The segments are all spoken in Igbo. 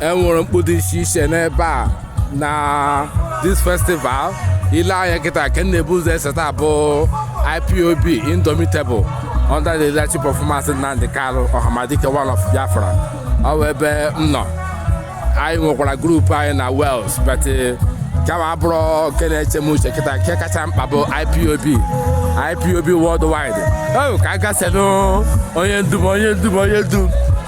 enwere mkpu dị iche iche n'ebe a na this festival ile anya kịta nke m na-ebu ụzọ eseta bụ ipob indomitable under the leadership of Maazị Nnamdi Kanu Ọhamadike one of Biafra ọ bụ ebe m nọ anyị nwekwara grupu anyị na Wales but kama abụrụ nke na-eche m uche kịta nke kacha mkpa bụ ipob ipob worldwide o ka a gasenụ onye ndu m onye ndu m onye ndu m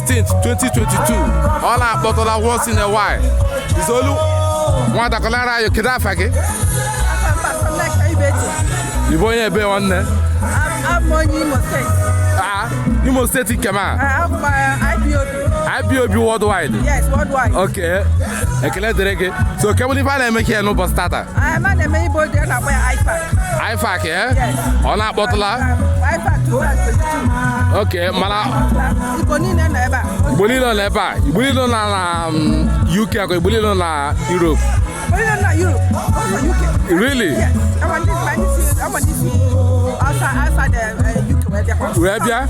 16, 2022 ọ na-akpọtụla once in a while izolu nwata kọọlụ anyị kedu afa gị ịbụ onye ebe nwanne Ah, Imo steeti nke ọma IPOB worldwide Yes, worldwide. oke ekele dịrị gị so ke bụ ife a na-eme ka ya n'ụbọchị tata anyị na-eme Igbo Day a na-akpọ ya IFAC. ifak eh? Yes. ọ na-akpọtụla IFAC 2022. ok mana Igbo niile nọ ebe a. igbo niile nọ n'ebe a igbo niile nọ na na, mm, uk akwa igbo niile nọ na europe Onye nọ na Europe, ọ nọ UK. really Yes, ama ndị ma ndị si ama ndị si outside outside the uh, UK wee bịakwa. wee bịa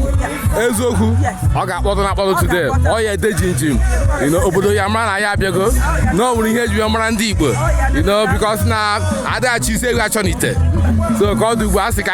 Yeah. eziokwu Yes. ọ ga-akpọtụ na akpọtụ today ọ ya-ede jimjim you know, obodo ya-amara na anyị abịago na ọ nwere ihe eji ya mara ndị igbo you know, because na adịghị achọ isi ewu achọ n'ite so ka ọ dị ugbu a sị ka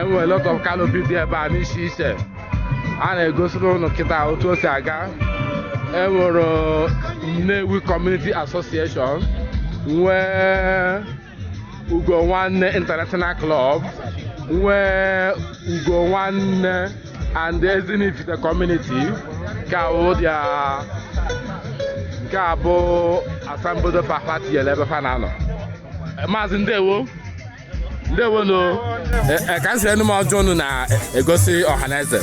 enwere lot of canopy dị ebe a n'iche iche a na-egosiri ụnụ kịta otu o si aga enwere Nnewi Community Association nwee Ugo Nwanne International Club nwee Ugo Nwanne and Ezinifite Community nke a bụ their nke a bụ asambodo fa fa tinyere ebe fa na-anọ maazị ndewo ndewonu e, e, ka m sere unu ma ọjị unu na-egosi ọhaneze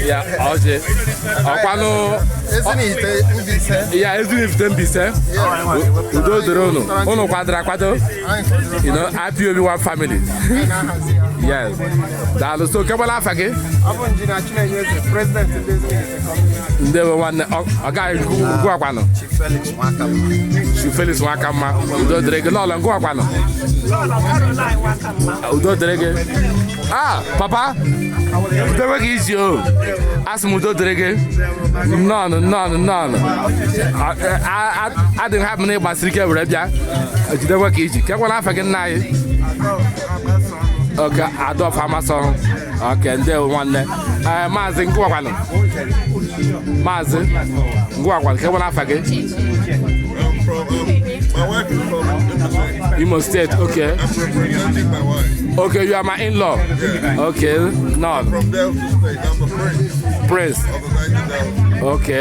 ya ọjị ọkwanụ ya ezinifite Mbaise udo dịrị unu unu kwadoro akwado you know IPOB one family yes daalụ so kekwanụ afa gị ndewo nwanne ọ ọ gaghị nke ugwu ugwu akwanụ Chief Felix Nwakamma Chief Felix Nwakamma udo dịrị gị nnọọ ngịwa kwanụ udo dịrị gị ah papa jidekwe ka iji o asị m udo dịrị gị nnọọ nnọọ nnọọ A- a- a- adị m happy na ịgbasiri ike were bịa jidekwe ka iji kekwanụ afa gị nna anyị oke adolf amasọrụ oke ndewo nwanne ee maazị ngwakwanụ maazị ngwakwanụ nke nwere afa gị imo steeti oke oke you are my in-law oke nọ prince oke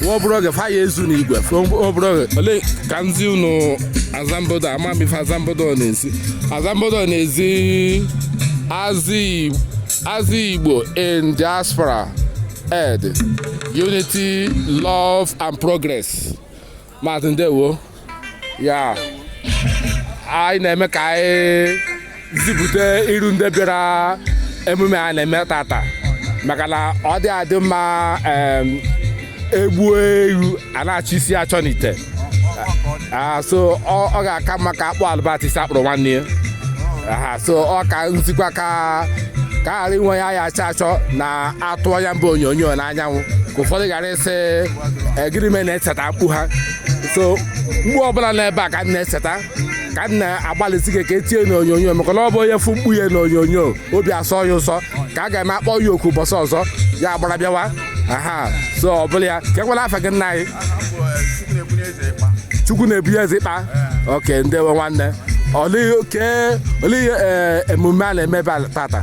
nwa obere oge fa ya ezu n'igwe nwa obere oge olee ka m zi unu azambodo ama m ife azambodo na-ezi azambodo na-ezi azị igbo in diaspora ed unity love and progress maazị ndewo ya anyị na-eme ka anyị zipụta iru ndị bịara emume a na-eme tata maka na ọ dị adị mma em, egbuo ewu a na-achọ isi achọ n'ite Ah, so ọ ọ ga-aka mma ka akpụ alụbata isi akpụrụ nwanne ya Aha, so ọ ka m zikwa ka ka ghara inwe onye a ya-achọ achọ na atụ ya mba onyonyo n'anyanwụ ka ụfọdụ ghara sị ọ gịnị me na-eseta mkpu ha so mkpu ọbụla nọ ebe a ka m na-eseta ka m na-agbalịsi ike ka e tinye n'onyonyo maka na ọ bụ onye fụ mkpu ya n'onyonyo obi asọ ya ụsọ ka a ga-eme akpọ ya oku ụbọchị ọzọ ya agbara bịawa aha so ọ bụla ya kee kwala afa gị nna anyị chukwu na-ebunye eze ịkpa okay ndewo nwanne olee oke- olee ihe, eh, emume a na-eme ebe a tata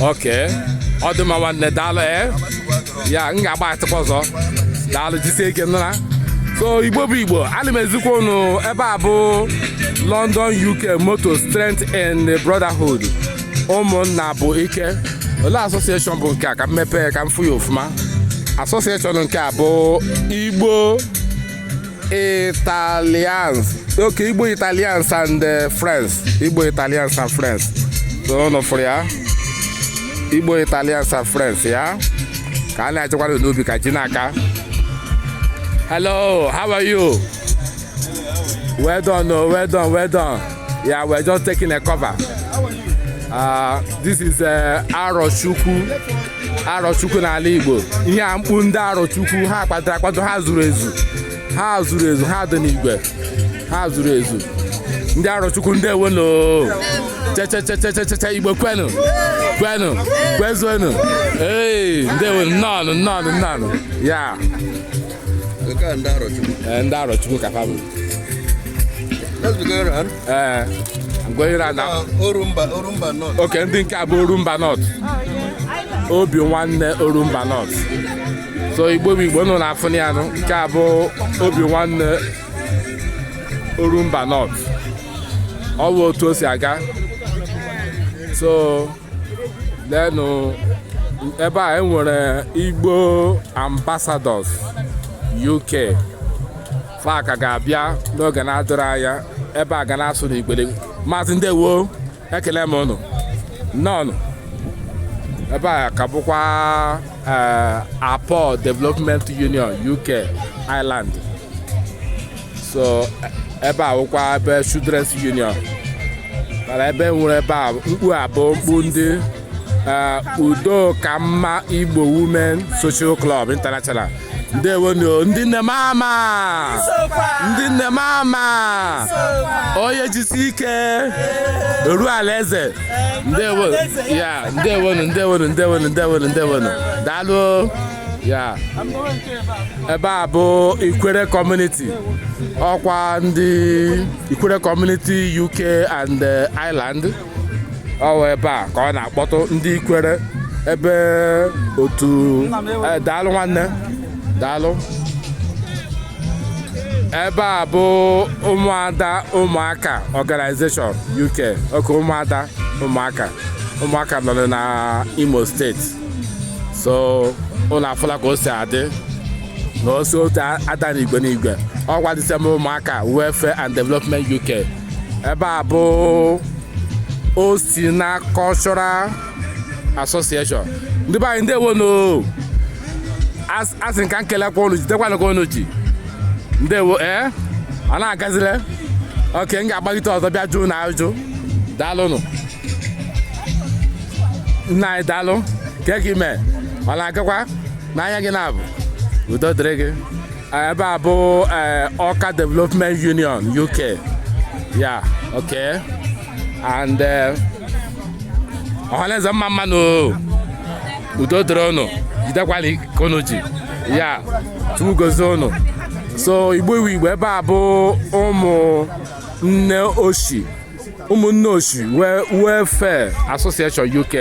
okay ọ dị mma nwanne daalụ ee ya m ga-agbatakwa ọzọ daalụ jisie ike n'ọrụ a so igbo bụ igbo ana m ezikwa unu ebe a bụ london uk motto strength and brotherhood ụmụnna bụ ike olee association bụ nke a ka m mepee ka m fụ ya ọfụma association nke a bụ igbo Italians. Okay, Igbo Italians and uh, Friends. Igbo Italians and Friends. So unu afụ ya. Igbo Italians and Friends, yeah. Ka a na-achịkwa na n'obi ka ji n'aka. Hello, how are you? Well done, oh, well done, well done. Yeah, we're just taking a cover. Uh, this is uh, Arochukwu arọchukwu n'ala igbo ihe a mkpu ndị arọchukwu ha kwadoro akwado ha zuru ezu ha zuru ezu ha dị n'igwe ha zuru ezu ndị arọchukwu ndị ewelo chechechechecheche igbo kwenu kwenu kwezuenu ee ndị ewelo nnọọ nnọọ nnọọ ya Nke a ndị Arọchukwu. Ee, ndị Arọchukwu ka fa bụ. Let's be going around. Ee, I'm going around now. Uh, Orumba, Orumba North. Okay, ndị nke a bụ Orumba North. Obi nwanne Orumba North. So Igbo bụ Igbo ụnụ na-afụ ya nụ. Nke a bụ Obi nwanne Orumba North. Ọ bụ otu o si aga. So leenụ ebe a enwere igbo ambassadors uk fa ka ga-abịa n'oge na-adịrọ anya ebe a ga na-asụ n'igbo maazị ndewo ekele m ụnụ neenụ ebe a ka bụkwa eh, akpo development union uk ireland so ebe a wụkwa ebe children's union mana ebe nwere ebe a mkpu a bụ mkpu ndị eh, udo ka mma igbo women social club international ndewonu ndị nne mama ndị nne mama onye jisi ike eru ala eze ndewo ya ndewonu ndewonu ndewonu ndewonu ndewonu daalụ ya ebe a bụ ikwere community ọkwa ndị ikwere community uk and eh, ireland ọ wụ ebe a ka a na-akpọtụ ndị ikwere ebe otu eh, daalụ nwanne daalụ ebe a bụ ụmụada ụmụaka organization uk okay ụmụada ụmụaka ụmụaka nọrọ na imo state so unu afụla ka o si adị na o si otu a dị na igwe na igwe ọkwa the same ụmụaka welfare and development uk ebe a bụ osina cultural association ndị be anyị ndewonụ asị m ka m kelekwa unu jidekwana ka unu ji ndewo ee eh? a na-agazile okay m ga-agbagite ọzọ bịa jụọ unu ajụjụ daalụnụ nna anyị daalụ kee ka i mee ọ na-agakwa n'anya gị na-abụ udo dịrị gị ebe a bụ awka development union uk ya ok and ọhaneze mma mma nụ udo dịrị ụnụ jidekwala ka ụnụ ji ya chukwu gozie ụnụ so igbo wụ igbo ebe a bụ ụmụ nne oshi ụmụnne osu welfare association uk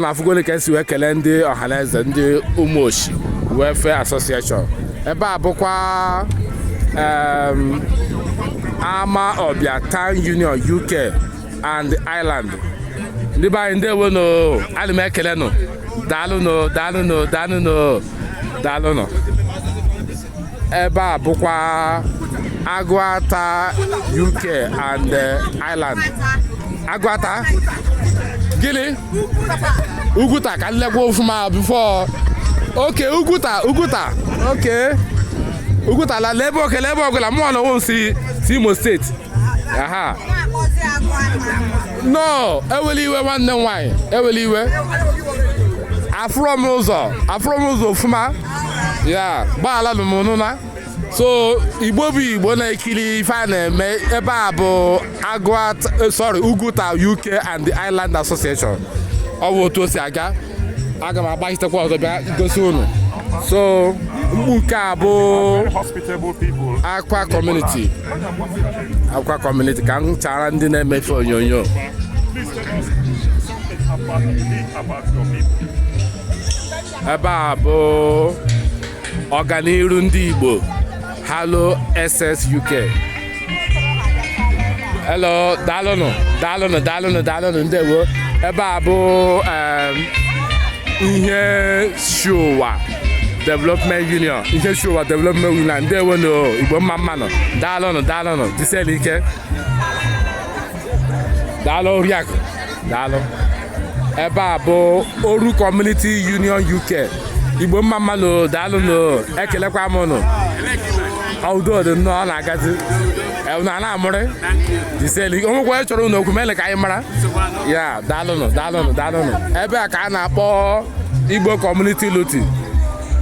na afụgoni ka esi wee kelee ndị ọhaneze ndị ụmụ osu welfare association ebe a bụkwa em, amawbia town union uk and ireland ndị be anyị ndewo nụ ana m ekele nụ daalụ nụ daalụ nụ daalụ nụ daalụ nụ ebe a bụkwa agụata uk and eh, ireland agụata gịnị oguta ka m lekwa ofuma before okay oguta oguta okay oguta la lebe okay lebe oguta mụ na onwe m si si imo state aha no ewele iwe nwanne m nwaanyị ewele iwe afụrọ m ụzọ afụrọ m ụzọ ofuma ya gbaala nụ m nụna so igbo bụ igbo na-ekiri ife a na-eme ebe a bụ agụa eh, sorry oguta uk and the ireland association ọ bụ otu o si aga aga m agbachitekwa ọzọ bịa gosi unu so mgbu nke a bụ akwa community akwa community ka m chara ndị na-eme ife onyonyo ebe a bụ ọganiru ndị Igbo Harlow Essex UK hello daalụnụ daalụnụ daalụnụ daalụnụ ndewo ebe a bụ ihechiowa development union ihechiowa development union ndewo nụ igbo mma mmanụ daalụnụ daalụnụ jisienụ ike daalụ oriakụ daalụ ebe a bụ oru community union uk igbo mma mmanụ daalụ nụ ekelekwa m nụ udo dị nnọọ ọ na-agazi na na-amụrị jisienụ o nwekwa chọrọ ụnụ okwu mele ka anyị mara ya daalụnụ daalụnụ daalụnụ ebe a ka a na-akpọ igbo community luton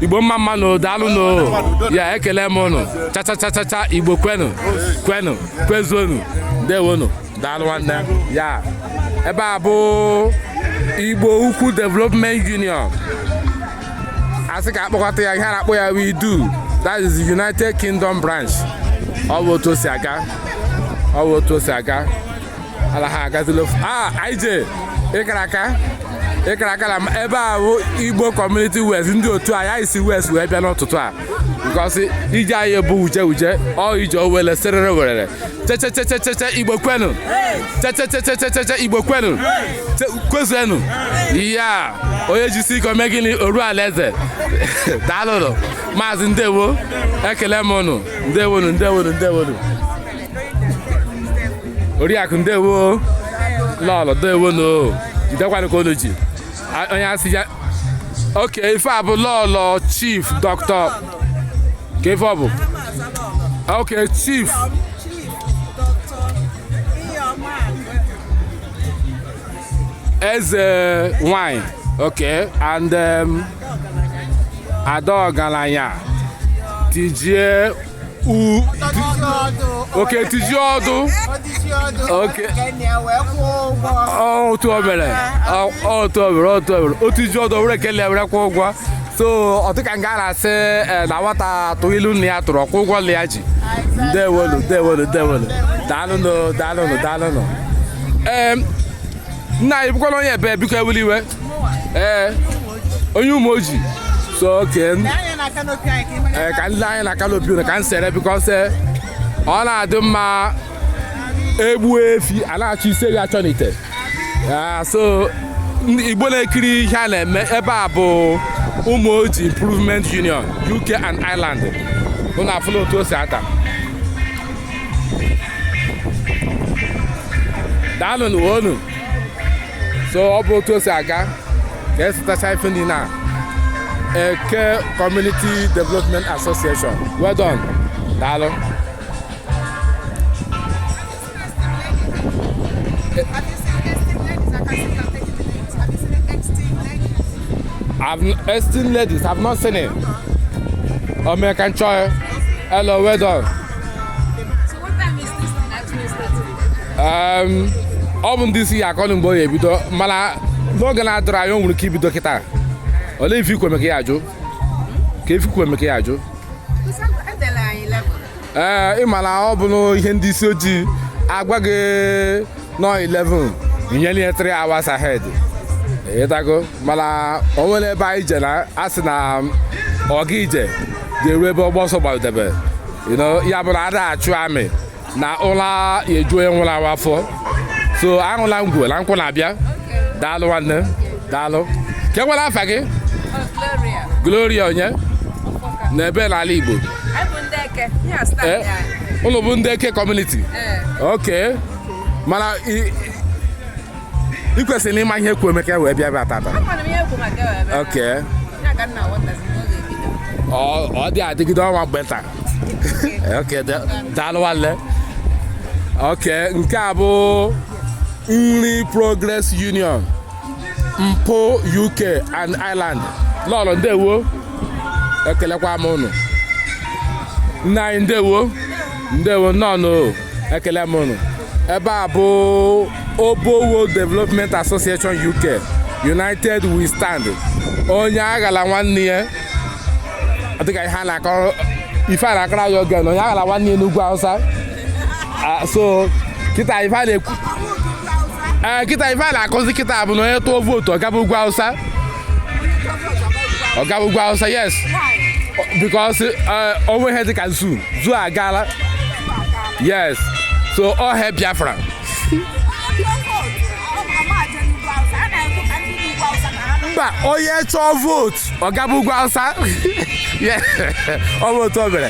igbo mma mma nụ daalụ nụ ya ekele m ụnụ cha cha cha cha cha igbo kwenu kwenu kwezuonụ ndewonụ daalụ nwanne ya ebe a bụ igbo ukwu development union a sị ka a kpọkọta ya ihe a na-akpọ ya wụ idu that is the united kingdom branch ọ bụ otu o si aga ọ bụ otu o si aga ala ha agazila ofu a ij ị kara aka ị kara aka na ebe a bụ igbo community wales ndị otu a ya si wales wee bịa n'ụtụtụ a because ije anyị bụ uje uje ọ ije owele serere werere chechechechecheche igbo kwenu chechechechecheche igbo kwenu kwezuenu ya onye jisi ike o mee gịnị o ruo alaeze daalụnụ maazị ndewo ekele m ụnụ ndewonu ndewonu ndewonu oriakụ ndewo lọlọ ndewonu jidekwanụ ka unu ji A- onye asị ya okay ife a bụ lọlọ chief dọkịta ka ife ọ bụ okay chief eze nwanyị okay and um, ada ọgaranya tijie okay tijie ọdụ otu obere otu obere otu obere otu iji ọdụ were kelee were kwụọ ụgwọ so ọ dịka nga a na-asị eh, na nwata tụọ ilu nna ya tụrụ ọ kwụọ ụgwọ nna ya ji ndewonu ndewonu ndewonu daalụnụ daalụnụ daalụnụ ee nna anyị bụkwana onye ebe biko ewela iwe ee onye umuoji so okay ee ka ndị anyị na canopy unu ka m sere because ọ na-adị mma e gbuo efi a na-achọ isi efi achọ n'ite Ah, so ndị igbo na-ekiri ihe a na-eme ebe a bụ umuoji improvement union uk and ireland unu afụla otu o si ata daalụnụ ee unu so ọ bụ otu o si aga ka e setacha ife niile a eke community development association well done daalụ I've n- esteemed ladies, I've not seen it. American Choir, hello, well done. ọ bụ ndị isi ya-akọnụ mgbe ọ ya-ebido mana n'oge na-adịrọ anya o nwere ike ibido kịta olee ife ikwe meka ya ajụ ka ife ikwe meka ya ajụ ee ị ma na ọ bụ ihe ndị isi ojii agwa gị na ọ 11 i nyere ya 3 hours ahead ị ghọtago mana o nwere ebe anyị je na a sị na ọga ije ga-eru ebe ọgba ọsọ gbadebe ya bụ na ada achụ amị na ụla eju onye nwụrụ anwụ afọ so aṅụla ngwọ na nkwụ na-abịa daalụ nwanne daalụ ke nwere afa gị gloria onye ebee n'ala igbo Eh, ụnụ bụ ndị Eke kọmuniti eh. ok mana ị kwesịrị ịma ihe kwu emeka wee bịa bịa tata ok ọ dị adịgide ọnwa mgbe nta ok daalụ nwanne ok nke a bụ Nri Progress Union NPU UK and Ireland lọrọ ndewo ekelekwa m ụnụ nna anyị ndewo ndewo nnọọ ekele m ụnụ ebe a bụ Obowo Development Association UK United we stand onye aghala nwanne ya dịka ihe a na-akọrọ ife a na-akọrọ ya oge na onye aghala nwanne ya n'ugwu Hausa Ah, so kịta ife a na-ekwu ee eh, kịta ife a na-akụzi kịta bụ na onye tụọ vootu ọ gaba ugwu awụsa ọ gaba ugwu awụsa yes because eh, o nwe ihe dịka zoo zoo agaala yes so all hail Biafra mba onye chọọ vootu ọ gaba ugwu awụsa ọ bụ otu o mere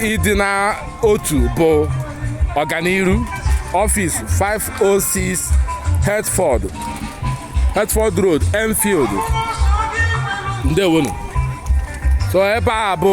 ịdị n'otu bụ ọganiru office 506 Hertford Road Enfield ndewonu so ebe a bụ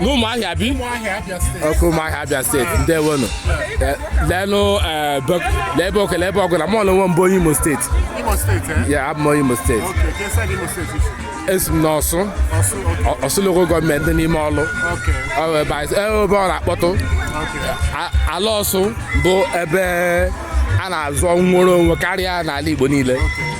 n'Ụmụahịa Ibeku Ụmụahịa Abịa steeti ndewonu Eh, leenụ eh, bek- lee ebe okele ebe ọgụla mụ onwe m bụ onye imo steeti Imo steeti eh? ya abụ m onye imo steeti Okay, ka esi aga Imo steeti i si? esi m n'ọsụ Ọsụ, okay, Ọ- ọsụ lokal gọọmenti dị n'ime Ọlụ okay, Ọ bụ ebe anyị- eh, ebe ọ na-akpọtụ okay. A- ala ọsụ bụ ebe a na-azọ nnwere onwe karịa n'ala Igbo niile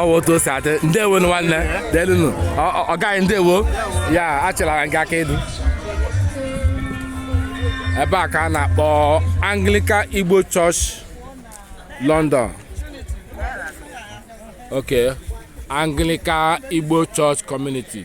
ọ bụ otu o si adị ndewo nụ nwanne daalụnụ ọga ndewo ya achịlara nke aka edu ebe a ka a na-akpọ Anglican Igbo Church London okay Anglican Igbo Church Community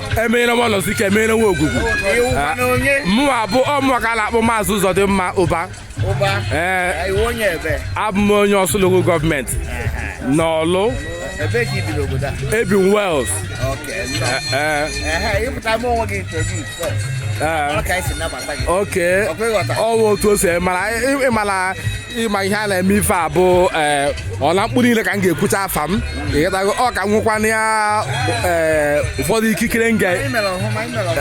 emenyere nwa nọzi ike emenyere nwa ogwugwu mụnwa bụ ọ mụwa ka a na-akpọ Maazị Ụzọdịmma Ụba ee abụ m onye Ọsụ lokal gọọmenti n'Ọlụ ebi m Wales okay ọ wụ otu o si mara ịmara ịma ihe a na-eme ife a bụ ee ọ na mkpu niile ka m ga-ekwucha afa m ịghọtago ọ ka m nwekwana ya ee ụfọdụ ikikere m ga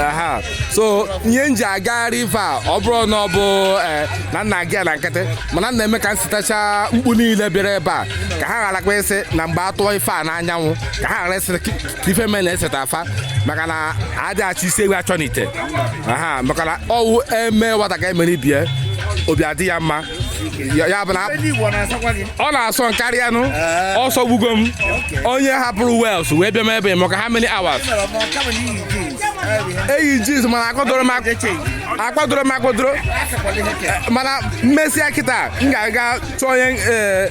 aha so ihe m ji agagharị ife a ọ bụrụ na ọ bụ ee na m na-aga na nkịtị mana m na-eme ka m setacha mkpu niile bịara ebe a ka ha gharakwa ịsị na mgbe a tụọ ife a n'anyanwụ ka ha ghara ịsị ife me na-eseta afa maka na adị achọ isi ewu achọ n'ite aha maka na ọwụ eme nwata ka emere ibe ya obi adị ya mma Ya- ya bụ na ọ na-asọ karịanụ ụsọ gbugo m onye hapụrụ Wales wee bịa m ebe m maka how many hours eyi jeans mana akwadoro m ak- akwadoro m akwadoro mana mmesịa kịta m ga-aga chọọ onye eh,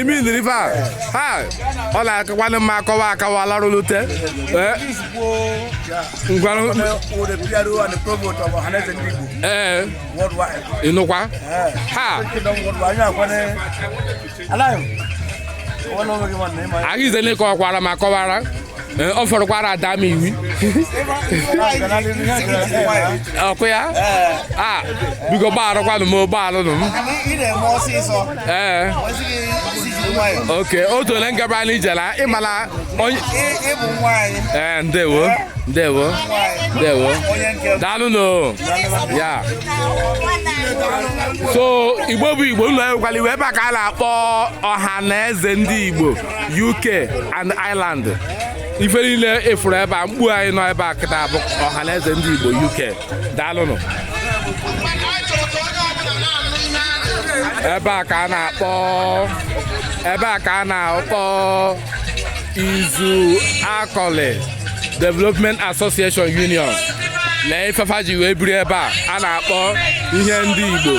imi nri ife a ha ọ na-akakwanụ mma akọwa akawa larụlute ee ngwanụ ee ịnụkwa ha ahụ ize na-ekọwakwara ma kọwara Eh, ọ fọrọkwara ada m iwi ọkụ ya a biko gbagharakwanụ m gbagharanụ m ee eh. okay otu ole ngaba anyị jela ịmala onye ee eh, ndewo ndewo ndewo daalụnụ ya so igbo bụ igbo ụnụ ewekwala iwe ebe a ka a na-akpọ ọha na eze ndị igbo UK and Ireland ife niile efuru ebe a mkpu anyị nọ ebe a kịta bụ ọha na eze ndị Igbo UK daalụnụ ebe a ka a na-akpọ ebe a ka a na-akpọ Uzuakọlị development association union lee ife fa ji wee biri ebe a a na-akpọ ihe ndị igbo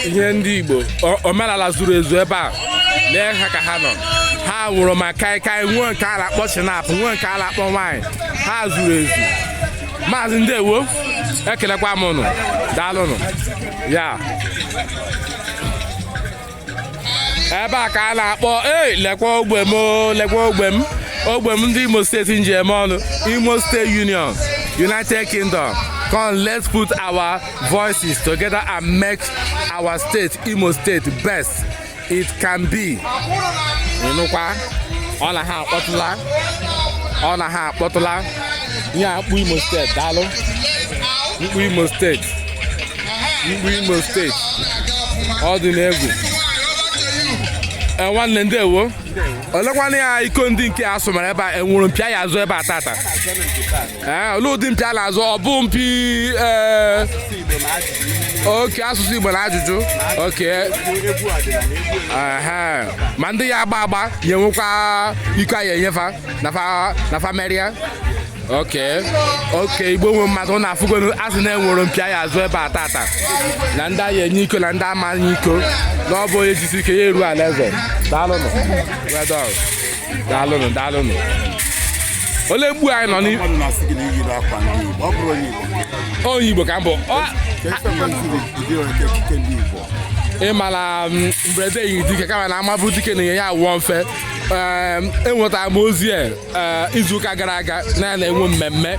ihe ndị igbo o- omenala zuru ezu ebe a lee ha ka ha nọ ha nwuru ma kaikai nwee nke a na-akpọ schnapp nwee nke a na-akpọ wine ha zuru ezu maazị ndewo ekelekwa m ụnụ daalụnụ ya ebe a ka a na-akpọ ei lekwa ogbe m lekwa ogbe m ogbe m ndị imo steeti m ji eme ọnụ imo state union united kingdom come let's put our voices together and make our state imo state best it can be ịnụkwa ọ na ha akpọtụla ọ na ha akpọtụla ihe a mkpu imo steeti daalụ mkpu imo steeti mkpu imo steeti ọ dị n'egwu Eh, nwanne ndewo olekwana ya iko ndị nke a sụmara ebe a enwere mpi a ya-azọ ebe a tata ee olee ụdị mpi a na-azọ ọ bụ mpi ee okay asụsụ igbo na ajụjụ okay ehe ma ndị ya agba agba ya enwekwa iko a ya-enye fa na fa na fa merịa okay okay igbo nwe mmadụ ụnụ afụgonụ a sị na enwere mpi a ya-azọ ebe a tata na ndị a ya-enye iko na ndị a ma-enye iko na ọ bụ onye jisi ike ya eru ala eze daalụnụ well done daalụnụ daalụnụ ole mgbu anyị nọ n'ihu onye igbo ka m bụ ịma na mm, mberede nyi dike kama na amabụ dike na-enye ya awụọ mfe enwetara m ozi a e, izuụka gara aga na ya na-enwe mmemme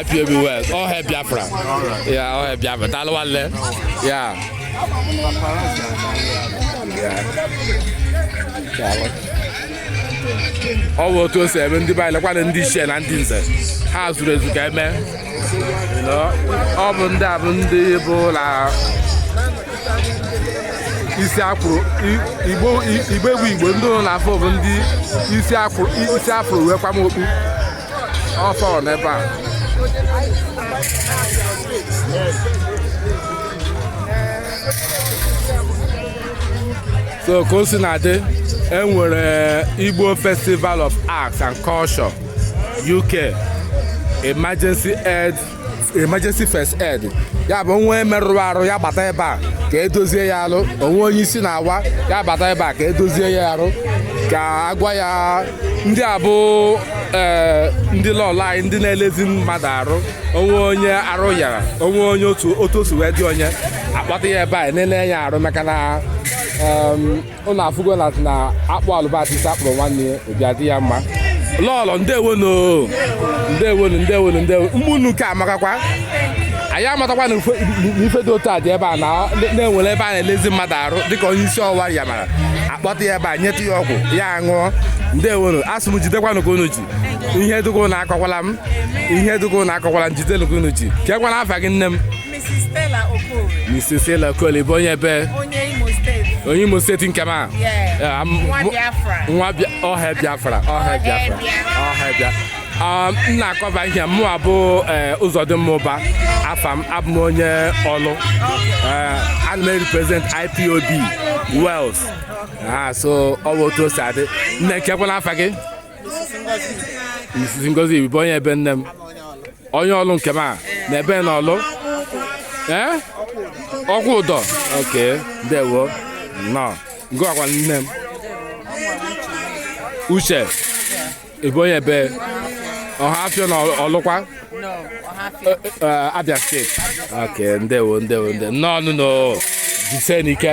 IPOB Wales. All hail Biafra. Yeah, all hail Biafra. Daalụ nwanne. Yeah. ọ bụ otu o si eme ndị be anyị lekwana ndị ichie na ndị nze ha zuru ezu ka eme ọ bụ ndị a bụ ndị bụ na isi akwụrụ igbo igbo egwu igbo ndị ụlọ na afọ bụ ndị isi afro wee kwam okpu ọfọ n'ebe a so ka o si na-adị enwere igbo festival of arts and culture uk emergency aid emergency first aid ya bụ o nwee merụrụ arụ ya gbata ebe a ka edozie ya arụ o nwee onye isi na-awa ya gbata ebe a ka edozie ya arụ ka agwa ya ndị a bụ ee ndị lọlọ anyị ndị na-elezi mmadụ arụ o nwee onye arụ yara o nwee onye otu otu o si wee dị onye a kpọta ya ebe a na-ele ya arụ maka na em, ụnụ afụgo na na akpụ alụbasisi akpụrụ nwanne ya obi adị ya mma lọlọ ndewonu ndewonu ndewonu ndewonu ụmụnne nke a amakakwa anyị amatakwa na ife dị otu a dị ebe a na e nwere ebe a na-elezi mmadụ arụ dịka onye isi ọwa ya mara a kpọta ya ebe a nyetụ ya ọgwụ ya ṅụọ ndewonu asị m jidekwanụ ka unu ji ihe dịka unu akọkwala m ihe dịka unu akọkwala m jidenu ka unu ji kekwana afa gị nne m Mrs. Stella Okorie. Mrs. Stella Okorie bụ onye ebe? Onye Imo steeti. Onye Imo steeti nke m a? Nwa Biafra. All hail Biafra. All hail Biafra. All hail Biafra. Um, m na-akọba ihe mụwa bụ eh, Ụzọdịmma bụ afa m abụ m onye Ọlụ eh, ana m represent IPOB Wales ah, so ọ bụ otu o si adị nne kekwana afa gị Mrs. Ngozi bụ onye ebe nne m onye Ọlụ nke m a na ebe na Ọlụ ee Ọkwụdọ oke ndewo nnọọ ngịkwa nne m Uche ị bụ onye ebe Ọhafịa na ọlụkwa Abịa steeti oke ndewo ndewo ndewo nnọọ nụ o jisie nụ ike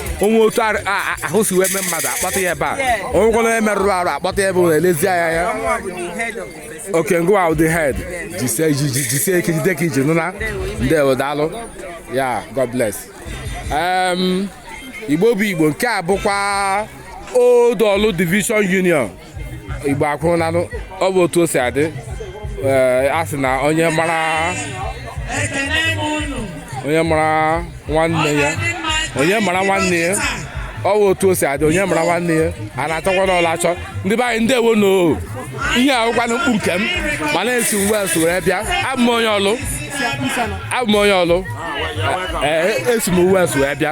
o nwee otu ar- a- a- ahụ si wee mee mmadụ a kpọta ya ebe a o nweekwa onye merụrụ arụ a kpọta ya ebe a na-elezi anya ya oke ngịwa wụ the head jisie ji- ji- jisie ike jide ka i ji nụna ndewo daalụ ya god bless Em, igbo bụ igbo nke a bụkwa old Orlu division union igbo akwụrụ nanụ ọ bụ otu o si adị ee, a sị na onye mara ekene m unu onye mara nwanne ya onye mara nwanne ya ọ bụ otu o si adị onye mara nwanne ya a na-achọkwanụ ọlụ achọ ndị be anyị ndewonu ihe a wụkwanụ mkpuke m ma na-esi West were bịa abụ m onye ọlụ abụ m onye ọlụ ee esi m West wee bịa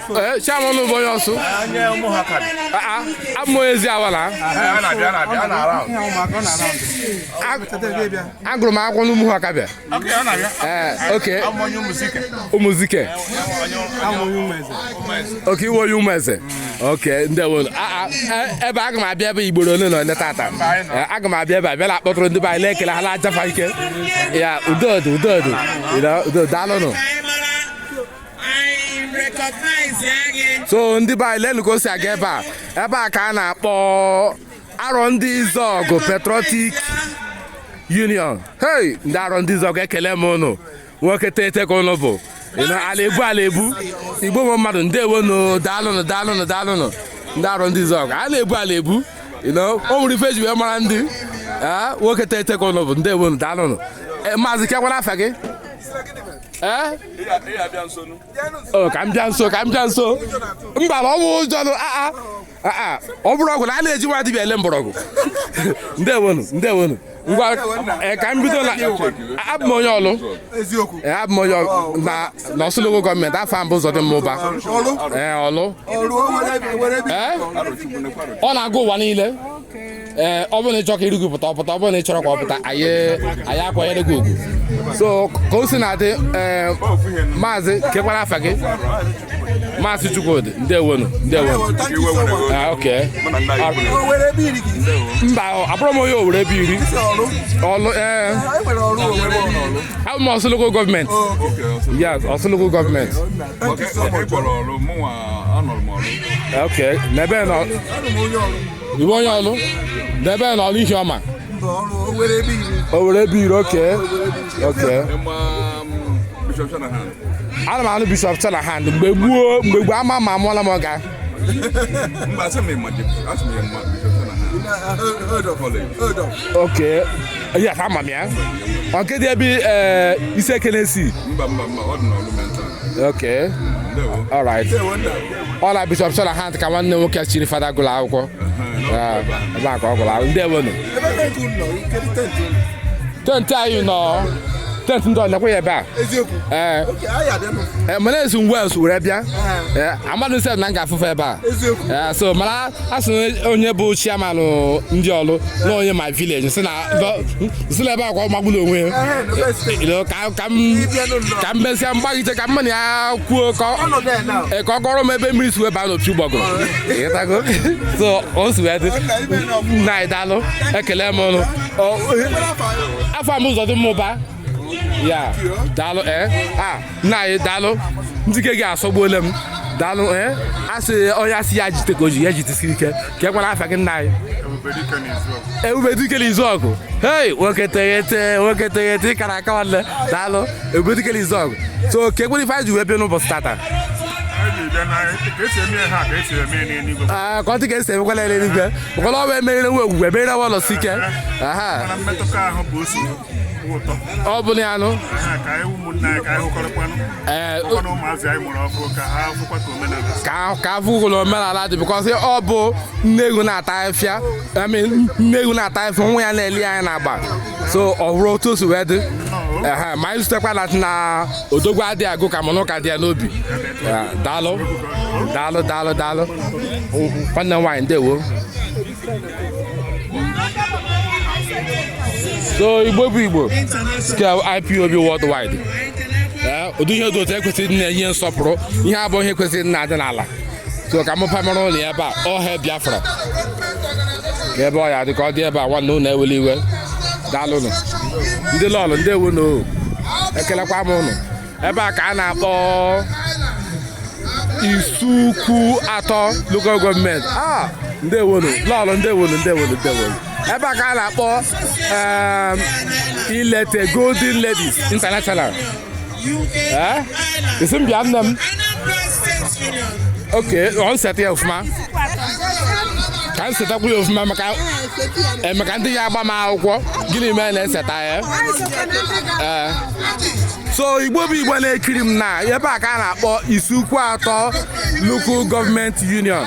Eh, chairman bụ onye ọsụ abụ m onye eziawa agụrụ m akwụkwọ n'ụmụhụ ọkabịa okay eh, ụmụzike okay ị wụ onye ụmụeze okay ndewo eh, ebe aga m abịa ebe igboro ole na ole tata aga m abịa ebe a bịa na-akpọtụrụ ndị be anyị na-ekele ha na-aja fa ike ya udo udo udo daalụnụ so ndị be anyị lenu ka o si aga ebe a ebe a ka a na-akpọ arọndizuọgụ patriotic union hey ndị arọndizuọgụ ekele m ụnụ nwoke teghete ka ụnụ bụ ala ebu ala ebu igbo nwe mmadụ ndewo nụ daalụnụ daalụnụ daalụnụ ndị arọndizuọgụ a na-ebu ala ebu o nwere ife e ji wee mara ndị a, nwoke teghete ka ụnụ bụ ndewo nụ daalụnụ eh, maazị kekwanụ afa gị ee eh? oh, ka m bịa nso ka m bịa nso mba ọ bụ ụjọ aa aa ọ bụrụ ọgwụ na a na-eji nwa dibịa ele mgbọrọgwụ ndewonu ndewonu ngwa eh, ka m bido na abụ m onye ọlụ eh, abụ m onye na n'ọsụ lokal gọọmenti afa m bụ ụzọdịmma ụba ọlụ eh, ọ na-aga ụwa niile ee ọ bụrụ na ị chọrọ ka iru gị pụta ọ pụta ọ bụrụ na ị chọrọ ka ọ pụta anyị anyị akwanyere gị ugwu so ka o si na-adị ee, maazị kekwanụ afa gị maazị chukwudị ndewonu ndewonu Ah, okay. mba abụrọ m onye owere ebeiri ọlụ ee abụ m ọsụ lokal gọọmenti yes ọsụ lokal gọọmenti Okay, okay, okporo ọlụ mụnwa anọrọ m ọlụ okay n'ebe nọ ị wụ onye ọlụ n'ebee n'ọlụ ihioma owere ebeiri okay okay ana m anụ bishọp Shanahan mgbe gboo mgbe gboo ama ma amụọla m ọga oke ya ka ama m ya ọ kedụ ebe ee isiekenesi mba mba mba ọ dị n'ọlụ mental okay all right ọ na bishọp shanahan ka nwanne nwoke chiri fada gụrụ akwụkwọ ebe a ka ọ gụrụ akwụkwọ ndewonu tenti anyị nọ tenti ndị ọlekwa ya ebe a ee mana esi ngwa esu were bịa amadụ sef na m ga-afụfe ebe a so mana a sị onye bụ chiamanụ ndị ọlụ na onye my village si na si n'ebe a kwa ọ magburu onwe ya ka m mesịa m gbaghite ka mụ na ya kwuo ka ọ kọrọ m ebe mmiri si wee baa n'opi ụgbọgụrụ so o si wee dị nna anyị daalụ ekele m ụnụ afọ m ụzọ dị mmụba ya daalụ ee eh? a ah, nna anyị daalụ ndị ke gị asọgbuola m daalụ ee eh? a sị onye a sị ya jite ka o ji ya jitesi ike kee kwanụ afa gị nna anyị ebubedike na izuọgụ hei nwoke teghete nwoke teghete ị kara aka nwanne daalụ ebubedike na izuọgụ so kee kwanụ ife anyị ji wee bịa n'ụbọchị tata ah, ka ọ dị ka e si emekwala eluigwe maka na ọ bụ emerire nwa ogwugwu emerire nwa anọsike ọ bụ ya nụ ee ka ka afụgolo omenala dị bikọsị ọ bụ nne ewu na-ata afịfịa emi nne ewu na-ata afịfịa nwa ya na-ele anya n'agba so ọ bụrụ otu o si wee dị Ehe, ma anyị zutekwa na na odogwu adịghị agụ ka mụnụ ka dị ya n'obi Eh, daalụ daalụ daalụ daalụ nwanne m nwaanyị ndewo so igbo bụ igbo ka ipob worldwide ee ụdị ihe dị otu a kwesịrị na-enye nsọpụrụ ihe a bụ ihe kwesịrị na-adị n'ala so ka mụpa mara ụnụ ebe a ọha biafra ka ebe ọ ya dị ka ọ dị ebe a nwanne ụnụ ewele iwe daalụnụ ndị lọlọ ndewonụ o ekelekwa m ụnụ ebe a ka a na-akpọ isuikwuatọ local gọọmenti ah, ndewonu lọlọ ndewonu ndewonu ndewonu ebe a ka a na-akpọ um, elite golden ladies international eh? ị sị m bịa nne m ok ọ nseta ya ọfụma ka m setakwu ya ọfụma maka e mechaa ndị a agbaa m akwụkwọ gịnị mee na-eseta ya so igbo bụ igbo na-ekiri m na ebe a ka a na-akpọ isuikwuatọ local government union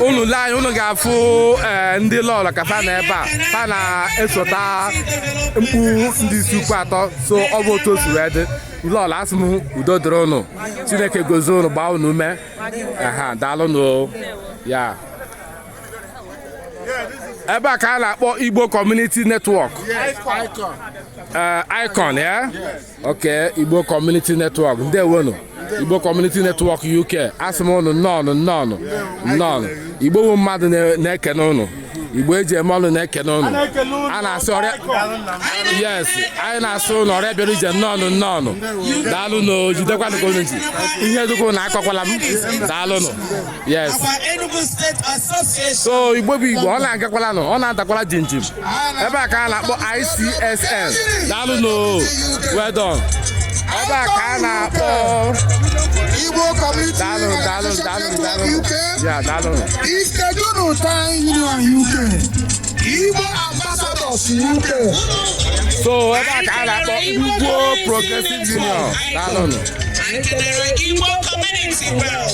unu lee anya unu ga-afụ eh, ndị lọlọ ka fa nọ ebe a fa na-esota mkpu ndị isuikwuatọ so ọ bụ otu o si wee dị lọlọ asị m udo dịrị unu chineke gozie unu gbaa unu ume aha daalụnụ ya ebe a ka a na-akpọ igbo community network Icon. Eh, icon ya ok igbo community network ndewonu igbo community network uk asị m ụnụ nnọọnụ nnọọnụ nnọọnụ igbo bụ mmadụ na- na-ekene ụnụ igbo eji eme ọnụ na-ekene ụnụ a na-asị ọra yes anyị na-asị ụnụ ọra bịara ije nnọọnụ nnọọnụ daalụnụ o jidekwanụ ka unu ji ihe dị ka ụnụ akọkwala m daalụnụ yes so igbo bụ igbo ọ na-agakwala nụ ọ na-adakwala jinjim ebe a ka a na-akpọ ICSN daalụnụ well done ebe a ka a na-akpọ Igbo Community daalụ daalụ daalụ daalụ ya daalụ Ikeduru Town Union UK Igbo Ambassadors UK so ebe a ka a na-akpọ Igbo Progressive Union daalụnụ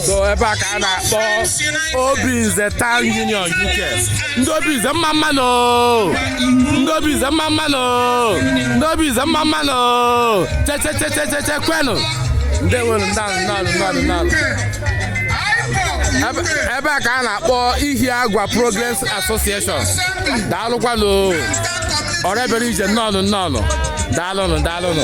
so ebe a ka a na-akpọ obinze town union uk ndị obinze mma mmanụ ndị obinze mma mmanụ ndị obinze mma mmanụ chechechechecheche kwenụ ndewonu daalụ daalụ daalụ daalụ ebe a ka a na-akpọ ihiagwa progress association daalụkwanụ ọra bịara ije nnọọnụ nnọọnụ daalụnụ daalụnụ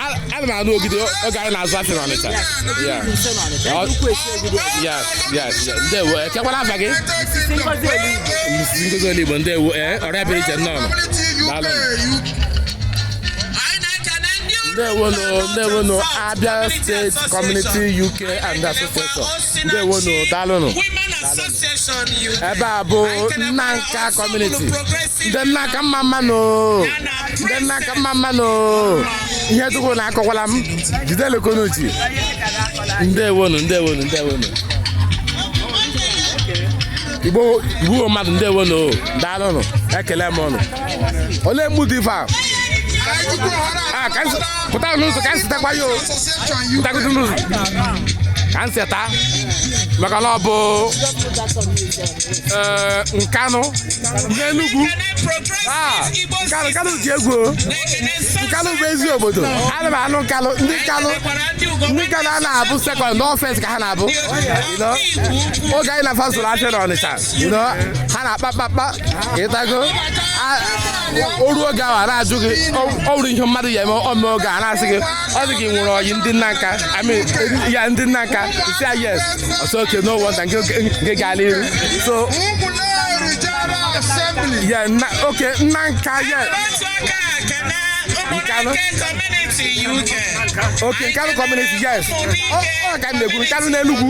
ana m anụ ogidi oge anyị na-azụ afịa n'ọnịcha ndewo ee kekwanụ afa gị ngozi oligbo ndewo ee ọra bịara ije nnọọ ndewonu ndewonu abia state community uk and association ndewonu daalụnụ ebe a bụ nanka community ndị nanka mma mmanụ ndị nanka mma mmanụ ihe dị ka ụnụ akọkwala m jidenụ ka ụnụ ji ndewonu ndewonu ndewonu igbo bụ mmadụ ndewonu daalụnụ ekele m ụnụ olee mgbu dị ife a Ah, ka m se- pụta n'ụzọ ka m setakwa ya o pụtagodu n'ụzọ ka m seta ya maka na ọ bụ ee, nkanụ n'enugwu Ah, nkanụ nkanụ dị egwu o. nkanụ bụ ezi obodo ana m anụ nkanụ ndị nkanụ ndị nkanụ a na-abụ sekọnd n'ọfens ka ha na-abụ You know? oge anyị na fa zụrụ afịa n'ọnịcha you know, ha na-akpa kpakpa ịtago a- o ruo oge ahụ a na-ajụ gị ọ- ọ nwere ihe mmadụ ya eme ọ mee oge a na-asị gị ọ dị gị nwere ọyị ndị nanka I mean, eh, yeah ndị nanka isi ya yes oh so okay no wonder nke nke gaala iru so Ụmụleri General Assembly. yeah nna okay nanka yeah Otu aka ekene Nkanụ. ụmụnne community UK. okay nkanụ community yes ọ ọ ka m na-ekwu nkanụ n'enugwu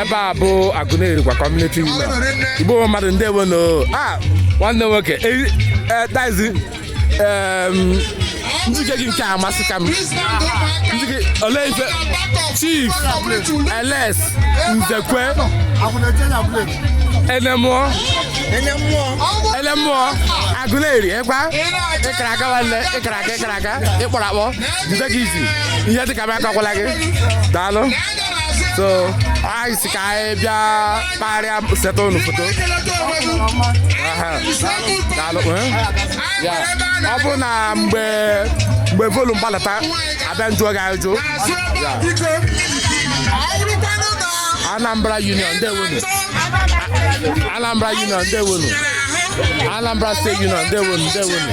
ebe a bụ Agụleri kwa community union igbo mmadụ ndewo nụ a nwanne nwoke dazi njike gị nke a amasịka m njike olee ife chief eles nzekwe enemụọ enemụọ agụleri ịkwa ịkara aka nwanne ịkara aka ịkara aka ịkpọrọ akpọ jide gị izi ihe dịka m akakwala gị daalụ so anyị si ka anyị bịa kparịa setụ unu foto Aha. daalụ eh? Ya. ọ bụ na mgbe mgbe volume gbalata abịa m jụọ gị ajụ Anambra Union ndewonu Anambra Union ndewonu Anambra State Union ndewonu ndewonu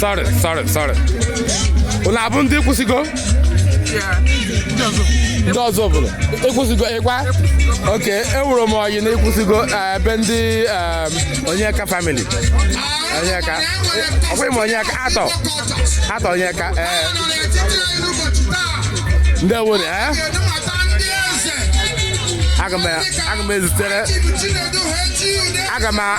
sorry sorry sorry unu abụ ndị Ekwusigo ndị Ọzụbụlụ Ekwusigo kwa okay enwere m ọyị na Ekwusigo eh, ebe ndị em, onyeka family onyeka eh, ọkwa ịma onyeka atọ atọ onyeka ee ndị ewere ee aga m aga m ezitere aga m a-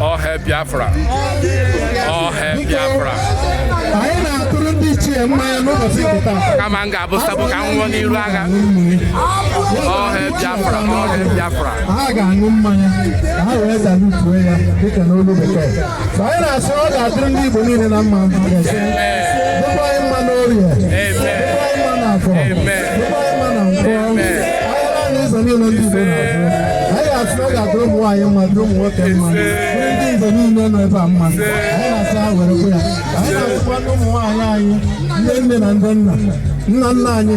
all hail biafra all hail biafra anyị na-atụrụ ndị ichie mmanya n'ụbọchị nke taa kama m ga-abụ sabo ka m nwụọ n'iru agha all hail biafra all hail biafra ha ga-aṅụ mmanya ka ha wee salutuo ya dịka n'olu bekee anyị na-asị ọ ga-adịrị ndị Igbo niile na mma dịkwa anyị mma n'orie dịkwa anyị mma n'afọ dịkwa anyị mma na nkwọ ahịa naanọ ụzọ niile ndị Igbo na-azụ anyị ga-asị ọ ga-adịrị ụmụ nwaanyị mma dịrị ụmụ nwoke mma ndị Igbo niile nọ ebe a mma anyị na-asị ha were kwe ya anyị na-asịkwa ndị ụmụ nwaanyị anyị ndị nne na ndị nna nna nna anyị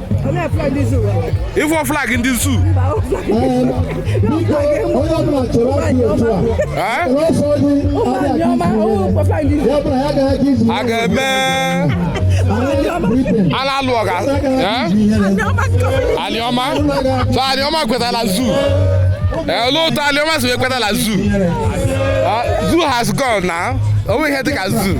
ịfụ flag ndị zoo a ga-eme a na-alụ ọgụ Anịọma so Anịọma kwetara zoo olee otu Anịọma si wee kwetara zoo zoo has gone now o nweghị ihe dịka zoo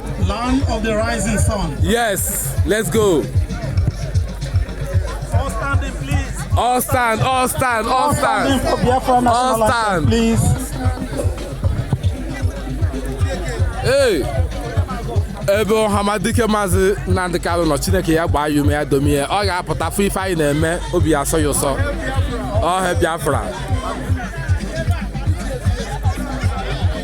Land of the rising sun. Yes, let's go. All standing, please. All stand, all stand, all, all stand. For Biafra all stand. please. Hey. ebe Ọhamadike Maazị Nnamdi Kanu nọ Chineke ya gbaa ya ume ya domi ya ọ ga-apụta fụ ife anyị na-eme obi asọ ya ụsọ All hail Biafra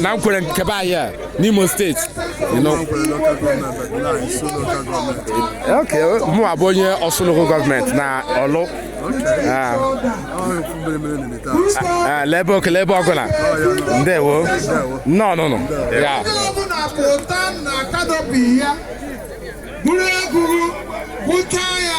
na Nkwere nke be anyị a n'Imo steeti ok mụwa bụ onye Ọsụ local gọọmenti na Ọlụ ah. ah, lebe oke lebe ọgụla ndewo nnọọ nụnụ ya bụrụ egwuru bụchaa ya